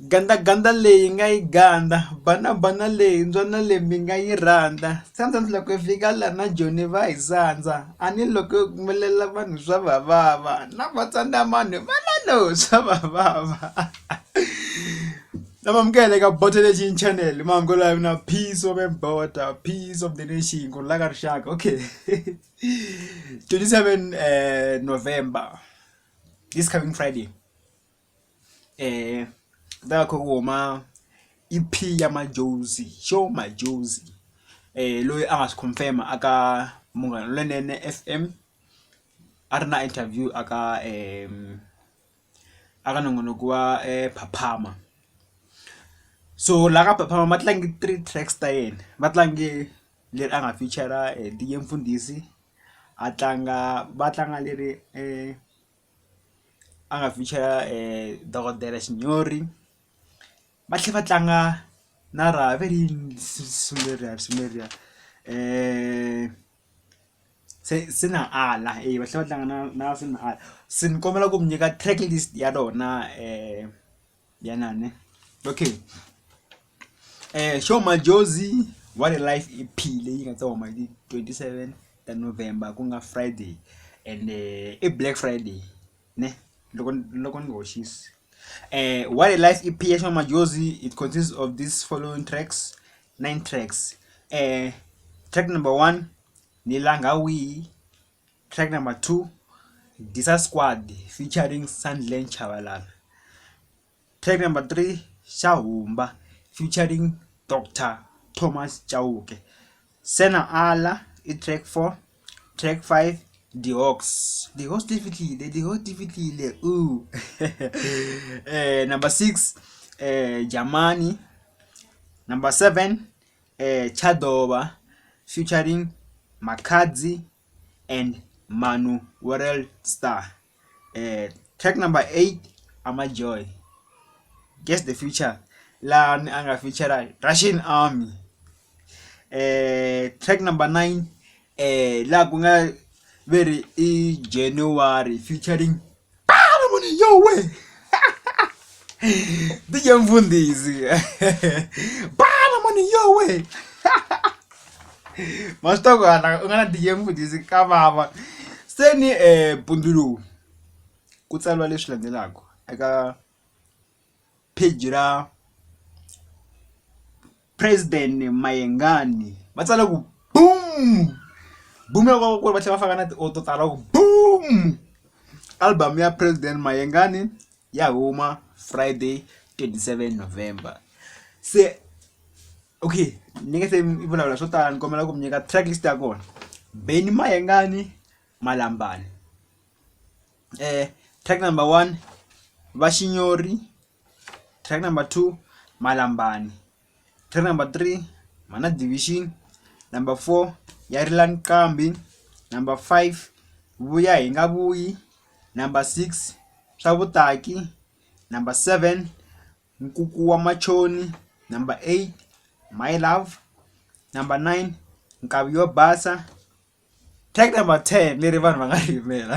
Gandza gandza leyi nga yi gandza bana bana leyi mbyana leyi mi nga yi rhandza sandza loko yi fika la na joni va hi sandza a ni loko yo humelela vanhu swa va vava na va tsandza mani va la no swa va vava na mamukela eka Bothelection channel mahungulo ya mina peace over border peace of the nation ku rhula ka rixaka okay twenty seven November this coming Friday. um vha khou ri wo ma ipfhi ya madzhozi sho madzhozi loyi a nga si confirm a ka Munghana Lonene F_M a ri na interview a ka a ka nongonoko wa phaphama so la ka phaphama va tlange three tracks ta yena va tlange leri a nga feature-a DJ Mfundhisi a tlanga va tlanga leri . a nga vhikela dokodela xinyori va tlhela va tlanga na ra ve ri yini risimu leriya risimu leriya se se na ala eya va tlhela va tlanga na na se na ala se ni kombela ku mi nyika track list ya rona . ya nane okay eh show majozi what a life iphile yi nga tsa huma hi 27 ta november ku nga friday and eh, i black friday ne loko loko ni hoxisi eh what a life ep ya show majozi it consists of these following tracks nine tracks eh track number one nilanga wihi Track number two Disa Squad featuring Sandile Chabalala. Track number three Xa Humba featuring Dr Thomas Chauke. Sena Ala i track four track five The Hawks. The Hawks ti fihlile The Hawks ti fihlile ooh eh number six eh Jamani number seven tsha ḓo vha featuring Makhadzi and Maano World Star. Track number eight Ama Joy guess the feature laha a ni a nga feature Russian Army track number nine. laha ku nga ve ri i January featuring Bana Monia yo weh DJ Mfundisi Bana Monia yo weh ma swi tiva ku hala u nga na DJ Mfundisi ka vava se ni mpundzu lowu ku tsariwa leswi landzelaka eka page ra. President Mayengani va tsale ku boom boom ya kona ku va tlhela va faka na ti auto tala ku boom album ya President Mayengani ya huma Friday 27 November se okay ni nge se mi vulavula swo tala ni kombela ku mi nyika track list ya kona Benny Mayengani Malambani eh track number one Vaxinyori track number two Malambani, track number three Mana Division, number four Yarilan Kambi, number five Vuya hi nga vuyi, number six swa vutaki, number seven Nkuku wa machoni, number eight My love, number nine Nkavi yo basa, track number ten leri vanhu va nga ri yimela.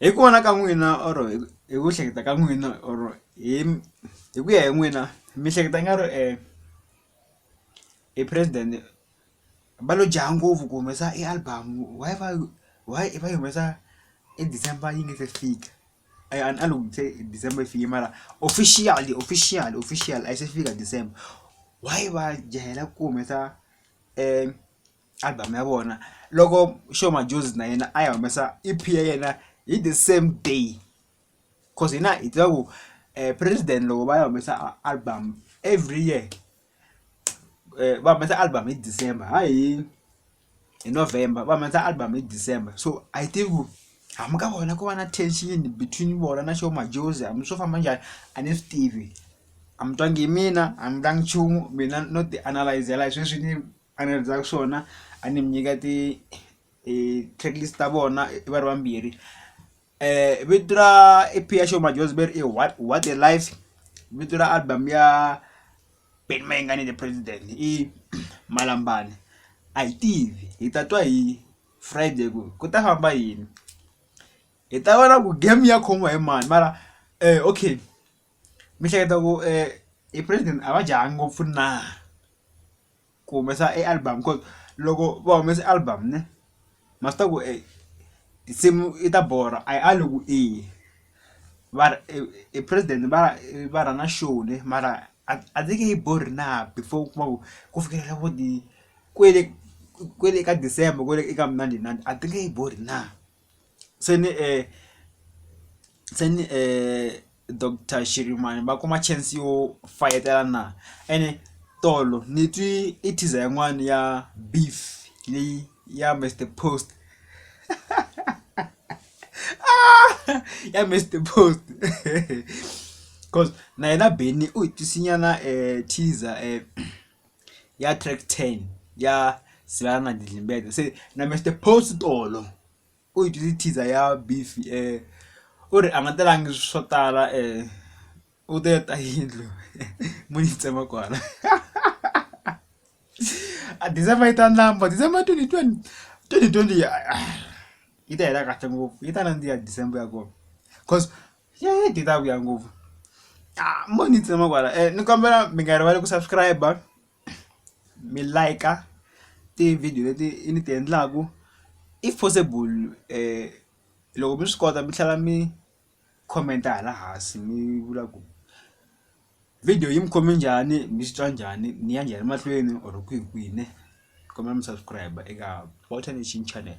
Hi ku vona ka n'wina or hi ku hleketa ka n'wina or hi hi ku ya hi n'wina mi hleketa i nga ri e president va lo jaha ngopfu ku humesa e album why va why va yi humesa e December yi nga se fika a yi a ni loko se December yi fike mara officially officially officially a yi se fika December why va jahele ku humesa . album ya vona loko Sho Madjozi na yena a ya humesa E_P ya yena hi the same day coz hina hi tiva ku president loko va ya humesa album every year va humesa album hi December ha hi hi November va humesa album hi December so a hi tivi ku hambi ka vona ku va na tension between vona na Sho Madjozi hambi swo famba njhani a ni swi tivi a mi twangi hi mina a mi vula nchumu mina no ti analyse-zela hi sweswi ni. a ni rhandzaka swona a ni mi nyika ti track list ta vona va ri vambirhi vito ra E_P ya Sho Madjozi va ri i what what a life vito ra album ya Benny Mayengani the president i Malambani a hi tivi hi ta twa hi Friday ku ku ta famba yini hi ta vona ku game ya khomiwa hi mani mara okay mi hleketa ku e president a va jahha ngopfu na. ku humesa e album ku loko va humesa album ne ma swi tiva ku tinsimu i ta borha a yi ali ku i va ri e president va va rhanga show ne mara a a ndzi nge yi borhi na before u kuma ku ku fikelela vo ni kwele kwele ka December kwale eka mnandinandi a ti nge yi borhi na. se ni se ni doctor shirimani va kuma chance yo fayetela na ene tolo ni twi i teaser yin'wani ya beef leyi ya Mister Post ya Mister Post coz na yena Benny u hi twisi nyana teaser . ya track ten ya sibaya na didlimbece se na Mister Boss tolo u hi dyondzise teaser ya beef u ri a nga telangi swo tala u te ta yindlu mo yi tsema kwala a December yi ta ndhambi December twenty twenty twenty twenty yi ta hela kahle ngopfu yi ta nandziha December ya kona cause. ye data ku ya ngopfu a mo ni tsema kwala ni kombela mi nga rivali ku subscribe mi like ti-video leti i ni ti endlaku if possible loko mi swi kota mi tlhela mi comment hala hansi mi vula ku video yi mi khome njhani mi swi twa njhani ni ya njhani mahlweni or kwihi kwihi ne kombela mi subscribe eka Walter Nation channel.